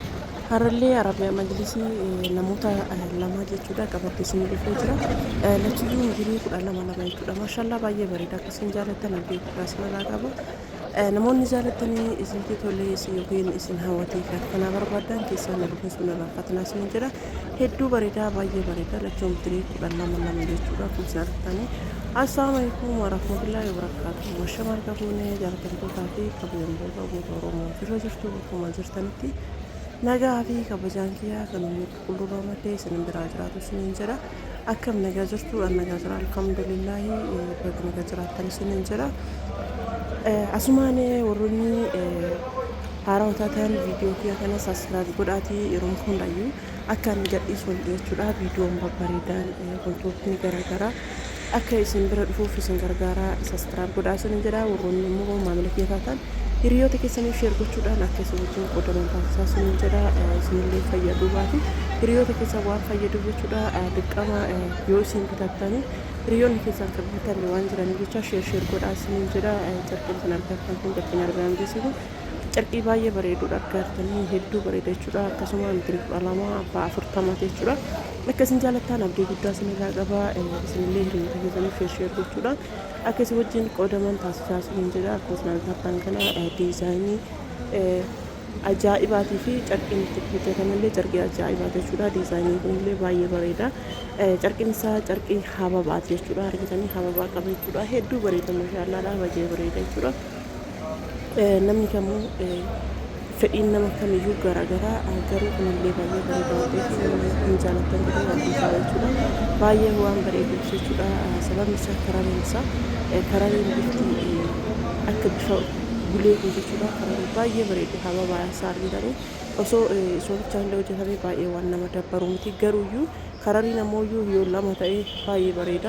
Harallee Arabiyaa Majlisii namoota lamaa jechuudha qabadhe isin dhufee jira. Lachiyyuu umurii kudha lama lama jechuudha. Maashaallah baay'ee bareeda akka isin jaalattan abdii guddaa isinirraa qaba. Namoonni jaalattanii isinti tolee isin yookiin isin hawwatee fi akkanaa barbaaddan keessaa na dubbisuu na raanfatinaa isin jedha. Hedduu bareeda baay'ee bareeda lachuu umurii kudha lama lama jechuudha akkuma isin argitanii. Assalaamu alaikum warahmatullahi wabarakatuh. Mashamaal qabuunee jaalatamtootaa fi kabajamtoota uummata Oromoo jirra jirtu. Akkuma jirtanitti nagaa fi kabajaan kiyyaa kan ummii qulqulluu roomattee isin biraa jiraatu isiniin jedha akkam nagaa jirtu an nagaa jira alhamdulillaahi baga nagaa jiraattan isiniin jedha asumaan warroonni haaraa hotaatan viidiyoo kiyya kana saskiraayib godhaatii yeroon hundayyuu Akka ani gadhiisuun jechuudha viidiyoon babbareedaan wantootni garaagaraa akka isin bira dhufuuf isin gargaaraa saskiraayib godhaa isin jedha warroonni immoo maamila kiyya taatan hiriyoota keessaniif sheer gochuudhaan akka isin wajjin qoodaman taasisaa isin jedha isinillee fayyaduu baate hiriyoota keessan waan fayyadu jechuudha dirqama yoo isin bitattanii hiriyoonni keessan akka bitan waan jiraniif jecha sheer sheer godhaa isin jedha carqeen isin argattan kun carqeen argaan geessisu Carqii baay'ee bareeduudha akka artanii hedduu bareeda jechuudha akkasuma intini kudha lama abbaa afurtama jechuudha akka isin jaalattaan abdii guddaa isin irraa qaba isinillee hiriyoota keessaniif sheer sheer gochuudha akka isin wajjin qoodaman taasisaa isiniin jedha akkuma isin argitan kana diizaayinii ajaa'ibaatii fi carqiin itti hojjetamellee carqii ajaa'ibaa jechuudha diizaayiniin kunillee baay'ee bareeda carqiin isaa carqii hababaati jechuudha argitanii hababaa qaba jechuudha hedduu bareeda mashaallaa dhaabajee bareeda jechuudha. Namni kamuu fedhiin nama kamiyyuu garaa garaa garuu kunillee baay'ee bareeda waan ta'eef namni hin jaalattan jedhee waan hin taa'u jechuudha. Baay'ee waan bareeduuf jechuudha. Sababni isaa karareen isaa karareen bifti akka bifa gulee kun jechuudha. Kararee baay'ee bareedu haba baay'ee isaa argitanii osoo osoo bichaan illee hojjetamee baay'ee waan nama dabbaru miti garuuyyuu karariin ammoo yoo lama ta'e baay'ee bareeda.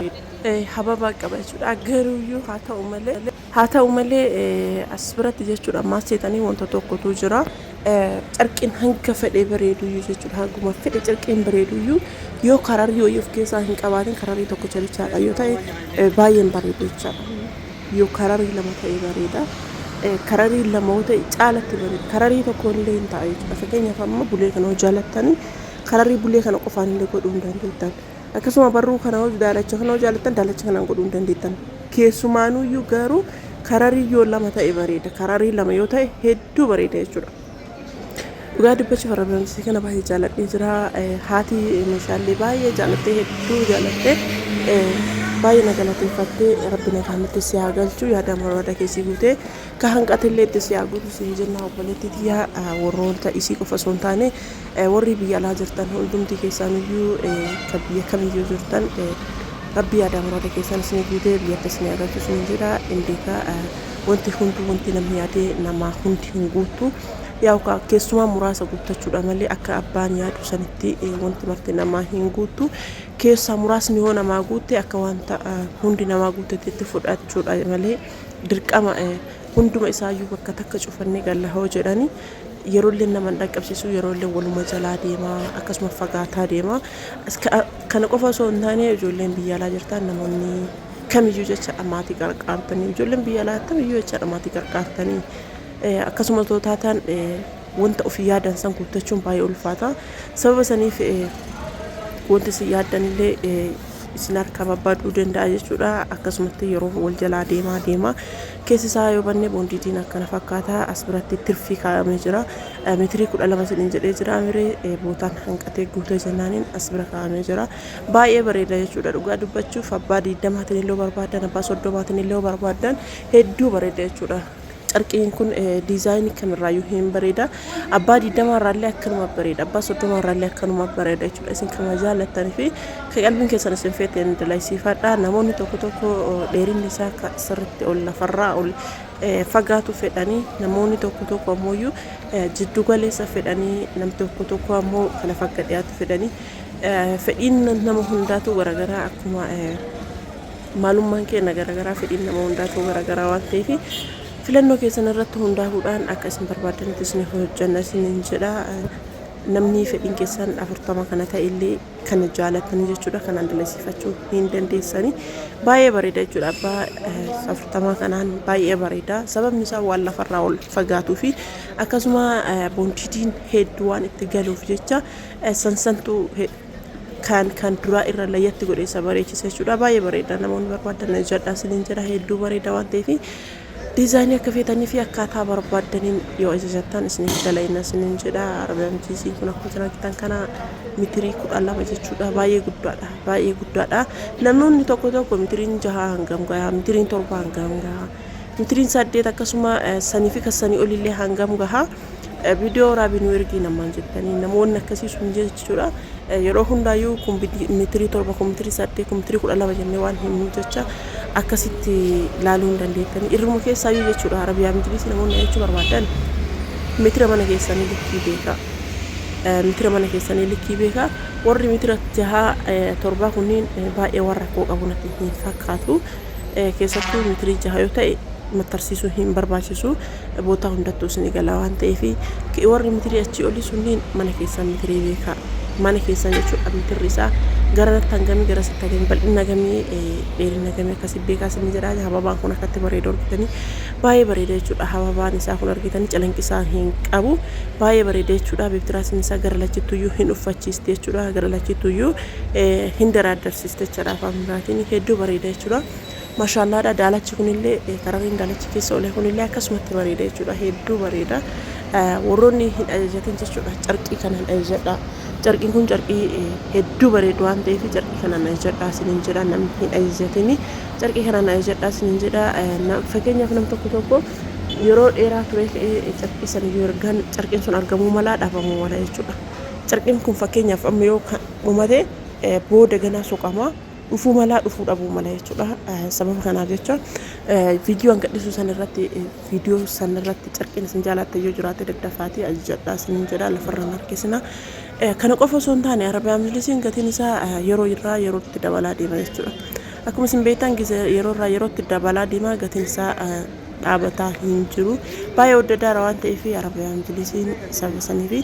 Hababaa qaba jechuudha garuuyyuu haa ta'u malee. Haa ta'u malee, as biratti jechuudha maal seetanii wanta tokkotu jira. Carqiin hanga fedhee bareeduyyuu jechuudha hanguma fedhe carqiin bareeduyyuu yoo kararrii wayii of keessaa hin qabaatin kararrii tokkicha bichaadha yoo ta'e baay'een bareedu jechaadha. Yoo kararrii lama ta'e bareeda. Kararrii lama yoo ta'e caalatti bareeda. Kararrii tokko illee hin ta'a jechuudha. Fakkeenyaaf amma bulee kana yoo jaalattanii kararrii bulee kana qofaan illee godhuu hin dandeettan. Akkasuma barruu kana hoo daalacha kana hoo jaalattan daalacha kanaan godhuu hin dandeettan. Keessumaanuyyuu garuu kararii yoo lama ta'e bareeda. Kararii lama yoo ta'e hedduu bareeda jechuudha. Dhugaa dubbachuuf warra barumsa kana baay'ee jaaladhee jira. Eh, Haati meeshaalee baay'ee jaalattee hedduu jaalattee eh, baay'ee na galateeffattee rabbi nagaan nutti si haa galchu yaada barbaada keessi guutee ka hanqatillee itti si haa guutu siin jenna obboleettii tiyyaa ah, warroota isii qofa osoo hin taane Worri biyya alaa jirtan hundumti keessaaniyyuu ka biyya kamiyyuu jirtan rabbi yaadaa muraada keessaan isinii guutee biyyatti isinii haa galchu isiniin jedha hin beeka wanti hunduu wanti namni yaadee namaa hundi hin guuttu yaa'u ka keessumaa muraasa guuttachuudha malee akka abbaan yaadu sanitti wanti marti namaa hin guuttu keessaa muraasni yoo namaa guutte akka wanta hundi namaa guuttetti itti fudhachuudha malee dirqama hunduma isaayyuu bakka takka cufannee galla hoo jedhani Yeroolleen nama hin dhaqqabsiisu, yeroolleen waluma jalaa deema, akkasuma fagaataa deema. Kana qofa osoo hin taane ijoolleen biyya alaa jirtan namoonni kamiyyuu jechaadha maatii qarqaartanii, ijoolleen biyya alaa attamiyyuu jechaadha maatii qarqaartanii akkasuma otoo taatan wanta ofii yaadan san guuttachuun baay'ee ulfaata. Sababa saniif wanti isin yaaddanillee isin harkaa barbaaduu danda'a jechuudha. Akkasumatti yeroo wal jalaa deemaa deema. Keessi isaa yoo banne boondiitiin akkana fakkaata. As biratti tirfii kaa'amee jira. Metirii kudha lama isiniin jedhee jira mire bootaan hanqatee guutee jennaaniin as bira kaa'amee jira. Baay'ee bareeda jechuudha dhugaa dubbachuuf abbaa diidamaatiin illee barbaaddan abbaa soddomaatiin illee barbaaddan hedduu bareeda jechuudha. Carqiin kun diizaayinii kamirraayyuu hin bareeda. Abbaa digdamaa irraallee akkanuma bareeda. Abbaa soddomaa irraallee akkanuma bareeda jechuudha. Isin kan jaallattan fi kan qalbiin keessan isin feete ni dalaysiifadha. Namoonni tokko tokko dheerinni isaa akka sirriitti ol lafarraa ol fagaatu fedhanii namoonni tokko tokko ammoo jiddu galeessa fedhanii namni tokko tokko ammoo kana fakka dhiyaatu fedhanii fedhiin nama hundaatu garaagaraa akkuma maalummaan keenya garaagaraa fedhiin nama hundaatu garaagaraa waan ta'eef Filannoo keessan irratti hundaahuudhaan akka isin barbaaddanitti isiniif hojjanna isiniin jedha. Namni fedhiin keessan 40 kana ta'e illee kana jaalattanii jechuudha kanaan dalasiifachuu hin dandeessanii. Baay'ee bareeda jechuudha abbaa eh, 40 kanaan baay'ee bareeda. Sababni isaa waan lafarraa ol fagaatuu fi akkasuma eh, bonchitiin hedduu waan itti galuuf jecha eh, sansantu he- Kan kan duraa irra layyatti godhe isa bareechisa jechuudha. Baay'ee bareeda namoonni barbaadan hojjadhaa isiniin jedha hedduu bareeda waan ta'eef diizaayinii akka feetanii fi akkaataa barbaadaniin yoo ajajattan isiniif dalayna isiniin jedha. Arabiyaan jiisii kun akkuma jiran argitan kana mitirii kudha lama jechuudha. Baay'ee guddaadha. Baay'ee guddaadha. Namoonni tokko tokko mitiriin jaha hangam gahaa mitiriin torba hangam gahaa Mitrin saddeet akkasuma sanii fi kassanii olillee hangam gaha video raabii nu ergii namaan jettanii namoonni akkasii sun jechuudha yeroo hundaayyuu kun mitrii torba kun mitrii saddeet kun mitrii kudha lama jennee waan himnu jecha akkasitti laaluu hin dandeettanii irruma keessaayyuu jechuudha arabiyaa mijilisi namoonni jechuu barbaadan mitira mana keessanii likkii beekaa mitira mana keessanii likkii beekaa warri mitira jahaa torbaa kunniin baay'ee warra koo qabu natti hin fakkaatu keessattuu metirii jaha yoo ta'e mattarsiisuu hin barbaachisu bootaa hundattuu isin egalaa waan ta'eef warri metirii achii olii sunniin mana keessan metirii beekaa mana keessan jechuudha mitirri isaa garanatti hangamii garasitti hangamii bal'ina gamii dheerina gamii akkasii beekaa isin jedhaa hababaan kun akkatti bareedu argitanii baay'ee bareeda jechuudha hababaan isaa kun argitanii calanqisaa hin qabu baay'ee bareeda jechuudha beektiraas isaa gara lachittuyyuu hin uffachiisti jechuudha gara lachittuyyuu hin daraaddarsiiste jechuudha afaan biraatiin hedduu bareeda jechuudha. Mashaallaadha daalachi kunillee karariin daalachi keessa olee kunillee akkasumatti bareeda jechuudha hedduu bareeda. Warroonni hin ajajatin jechuudha carqii kanaan ajajadha. Carqiin kun carqii hedduu bareedu waan ta'eef carqii kanaan ajajadha isiniin jedha namni hin ajajatin carqii kanaan ajajadha isiniin jedha. Fakkeenyaaf nam tokko tokko yeroo dheeraa ture carqii sana yoo ergan carqiin sun argamuu malaa dhabamuu mala jechuudha. Carqin kun fakkeenyaaf amma yoo kan dhumate booda ganaa soqamaa dhufuu malaa dhufuu dhabuu mala jechuudha. Sababa kanaaf jecha viidiyoo an gadhisu san irratti viidiyoo san irratti carqin isin jaalaatte yoo jiraate daddafaatii ajajadhaa isinin jedha lafarra hin harkisina. Kana qofa osoo hin taane Arabiyaan Majlisiin gatiin isaa yeroo irraa yerootti dabalaa deema jechuudha. Akkuma isin beektan yeroo irraa yerootti dabalaa deema gatiin isaa dhaabataa hin jiru. Baay'ee wadda daara waan ta'eef Arabiyaan Majlisiin sababa saniifi.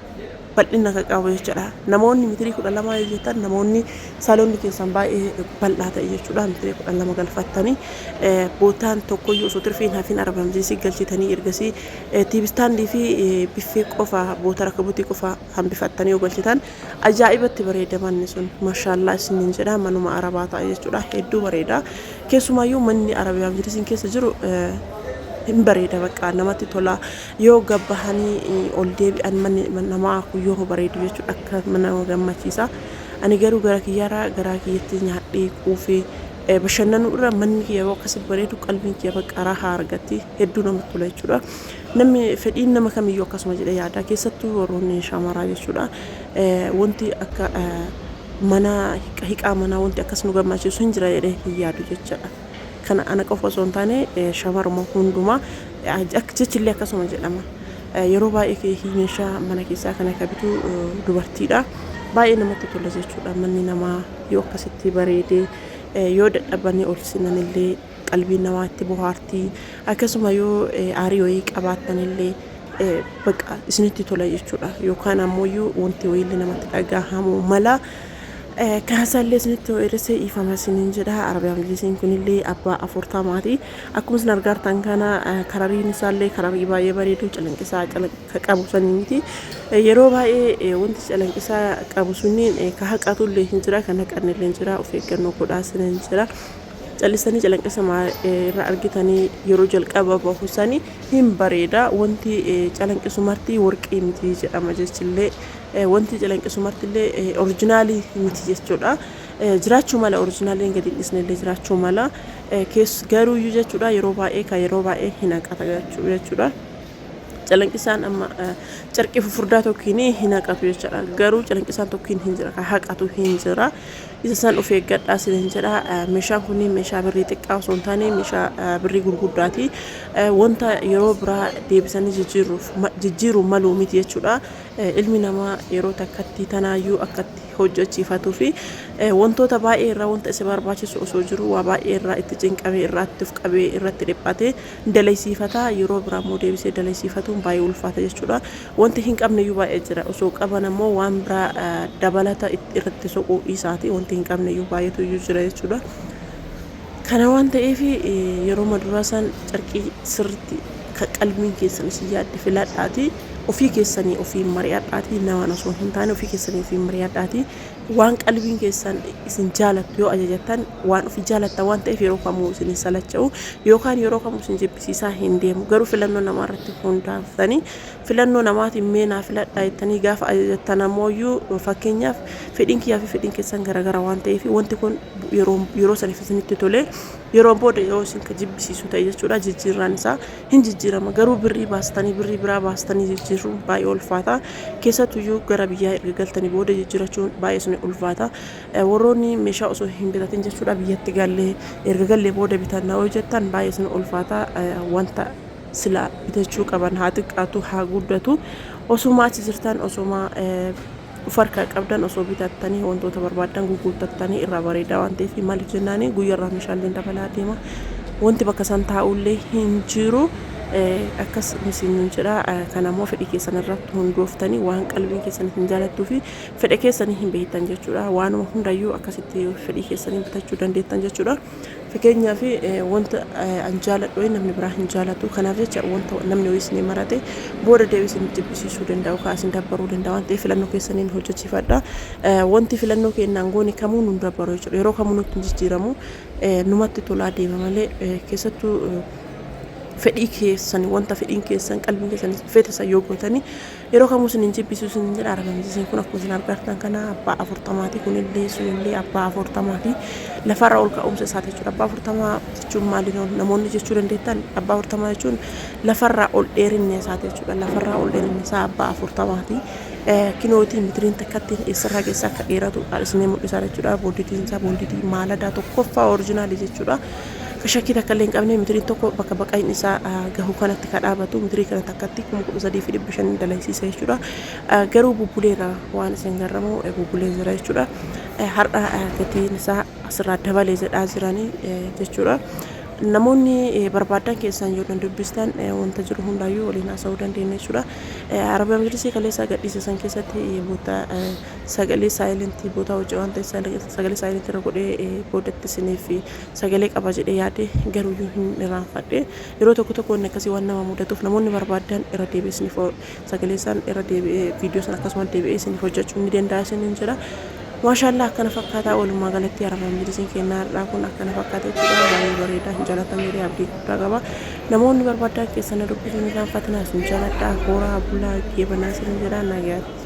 bal'ina kan qabu jechuudha. Namoonni mitirii kudha lamaa yoo jettan namoonni saloonni keessan baay'ee bal'aa ta'e jechuudha. Mitirii kudha lama galfattanii bootaan tokkoyyuu osoo tirfiin hafiin arabamsiisii galchitanii ergasii tiibistaandii fi biffee qofa boota rakabutii qofa hambifattanii yoo galchitan ajaa'ibatti bareeda manni sun mashaallaa isiniin jedha manuma arabaa ta'a jechuudha. Hedduu bareeda. Keessumaayyuu manni arabiyaa mitirii keessa jiru hin bareeda bakka namatti tola. Yoo gad bahanii ol deebi'an manni namaa kun yoo bareedu jechuudha akka nama gammachiisa. Ani garuu gara kiyyaarraa garaa kiyyatti nyaadhee quufee eh, bashannanuu irra manni kiyya yeroo akkasi bareedu qalbiin kiyya bakka rahaa argatti hedduu namatti tola jechuudha. Namni fedhiin nama kamiyyuu akkasuma jedhee yaada keessattuu warroonni shamaraa jechuudha. Eh, Wanti akka eh, mana hiqa- hiqaa manaa wanti akkas nu gammachiisu hin jira jedhee hin yaadu jechaadha. Kana ana qofa osoo hin taane eh, shamaruma hundumaa Jechillee akkasuma jedhama. Yeroo baay'ee keekii meeshaa mana keessaa kana ka bitu dubartiidha. Baay'ee namatti tola jechuudha. Manni namaa yoo akkasitti bareedee yoo dadhabanii ol sinanillee qalbiin namaa itti bohaartii akkasuma yoo aarii wayii qabaattanillee baqa isinitti tola jechuudha. Yookaan ammoo wanti wayiillee namatti dhagahamu mala. Kaasaallee isinitti ho'eeressee iifama isiniin jedha. Arabiyaa majlisiin kunillee abbaa afurtamaati. Akkuma isin argaartan kana karariin isaallee kararii baay'ee bareedu calanqisaa calanqa qabu sanii miti. Yeroo baay'ee wanti calanqisaa qabu sunniin ka haqatu illee hin jira kan haqanne illee hin jira of eeggannoo godhaa sina hin jira. Callisanii calanqisa irra argitanii yeroo jalqaba bahu sanii hin bareeda wanti calanqisu marti warqii miti jedhama jechillee wanti calanqisu marti illee orijinaalii miti jechuudha. Jiraachuu mala orijinaaliin gadi dhisne illee jiraachuu mala Kees, garuuyyu jechuudha yeroo baay'ee ka yeroo baay'ee hin haqata jechuu jechuudha. Calanqisaan amma carqii fufurdaa tokkiin hin haqatu jechuudha. Garuu calanqisaan tokkiin hin jira ka haqatu hin jira. Isa san of eeggadhaa sin hin jedha. Meeshaan kun meeshaa birrii xiqqaa osoo hin taane meeshaa birrii gurguddaati. Wanta yeroo biraa deebisanii jijjiiruuf jijjiiruun maluu miti jechuudha. Ilmi namaa yeroo takkatti tanaayyuu akka itti hojjechiifatuu fi wantoota baay'ee irraa wanta isa barbaachisu osoo jiru waa baay'ee irraa itti cinqamee irraatti of qabee irratti dhiphatee dalaysiifata yeroo biraa immoo deebisee dalaysiifatuun baay'ee ulfaata jechuudha. Wanti hin qabne iyyuu baay'ee jira osoo qaban ammoo waan biraa dabalata irratti soquu isaati wanti hin qabne iyyuu baay'eetu iyyuu jira jechuudha. Kana waan ta'eef yeroo maduraa san carqii sirritti ka qalbiin keessan isin yaadde filadhaatii ofii keessanii ofiin mari'adhaatii namaan osoo hin taane ofii keessanii ofiin mari'adhaatii waan qalbiin keessan isin jaalattu yoo ajajattan waan ofii jaalattan waan ta'eef yeroo kamuu isin hin salacha'u yookaan yeroo kamuu isin jibbisiisaa hin deemu garuu filannoo namaa irratti hundaaftanii Filannoo namaatiin mee naa filadhaa jettanii gaafa ajajattan ammooyyuu fakkeenyaaf fedhiin kiyyaa fi fedhiin keessan garagara waan ta'eef wanti kun yeroo yeroo saniif isinitti tolee yeroon booda yeroo isin ka jibbisiisu ta'e jechuudha jijjiirraan isaa hin jijjiirama garuu birrii baastanii birrii biraa baastanii jijjiirruun baay'ee ulfaata keessattuyyuu gara biyyaa erga galtanii booda jijjiirachuun baay'ee isin ulfaata warroonni meeshaa osoo hin bitatin jechuudha biyyatti gallee erga gallee booda bitanna yoo jettan baay'ee isin ulfaata wanta silaa bitachuu qaban haa xiqqaatu haa guddatu osoma achi jirtan osoma of harkaa qabdan osoo bitattanii wantoota barbaaddan gugguuttattanii irraa bareedaa waan ta'eef maaliif jennaani guyyarraa meeshaaleen dabalaa deema wanti bakka san taa'ullee hin jiru akkas isin jedha kanammoo fedhii keessan irratti hundooftanii waan qalbiin keessan isin jaalattuu fi fedha keessanii hin beektan jechuudha waanuma hundayyuu akkasitti fedhii keessanii bitachuu dandeettan jechuudha Fkn wanta an jaaladhu wayi namni biraa hin jaalatu kanaaf jecha wanta namni wayi isinii marate booda deebi isin jibbisiisuu danda'a yookaan isin dabbaruu danda'a waan ta'eef filannoo keessaniin hojjechiifadha wanti filannoo keennaan goone kamuu nun dabbaru jechuudha yeroo kamuu nutti hin jijjiiramu numatti tolaa deema malee keessattuu fedhii keessan wanta fedhiin keessan qalbiin keessan fete san yoo gootanii Yeroo kamuu isin hin jibbisu isin jedha argamsiiseen kun akkuma isin argartan kana abbaa afurtamaati kunillee sunillee abbaa afurtamaa fi lafarra ol ka'umsa isaati jechuudha abbaa afurtamaa jechuun maali namoonni jechuu dandeettan abbaa afurtamaa jechuun lafarraa ol dheerinni isaati jechuudha lafarraa ol dheerinni isaa abbaa afurtamaati kinootii mitiriin takkatti eessarraa keessa akka dheeratu isinii mul'isa jechuudha booditiin isaa booditii maaladaa tokkoffaa orijinaalii jechuudha ka shakkii takka illee hin qabne mitiriin tokko bakka baqayin isaa gahu kanatti ka dhaabatu mitirii kana takkatti kuma kudha sadii fi dhibba shan dalaysiisa jechuudha. Garuu bubbuleera waan isin garramu bubbulee jira jechuudha. Har'a gatiin isaa asirraa dabalee jedhaa jiranii jechuudha. Namoonni barbaadan keessaan yoo dubbistan wanta jiru hundaayyuu waliin haasa'uu dandeenya jechuudha. Arabiyaa majlisii kaleessaa gadhiise san keessatti boota sagalee saayilentii bootaa hojii waan ta'eef sagalee saayilentii irra godhee boodatti isiniif sagalee qaba jedhee yaade garuuyyuu hin irraanfadhe. Yeroo tokko tokko wanni akkasii waan nama mudatuuf namoonni barbaaddan irra deebi'ee isiniif o- sagalee isaan irra deebi'ee viidiyoo sana akkasuma deebi'ee isiniif hojjechuun ni danda'a isiniin jedha. Maashaallah akkana fakkaataa walumaa galatti arabaan biiziin kennaa har'aa kun akkana fakkaata jechuudha baay'ee bareedaa hin jaalatan jedhee abdii guddaa qaba. Namoonni barbaaddaan keessan na dubbisuun irraanfatinaa isin jaaladha horaa bulaa geebanaa isiniin jedha nagaatti.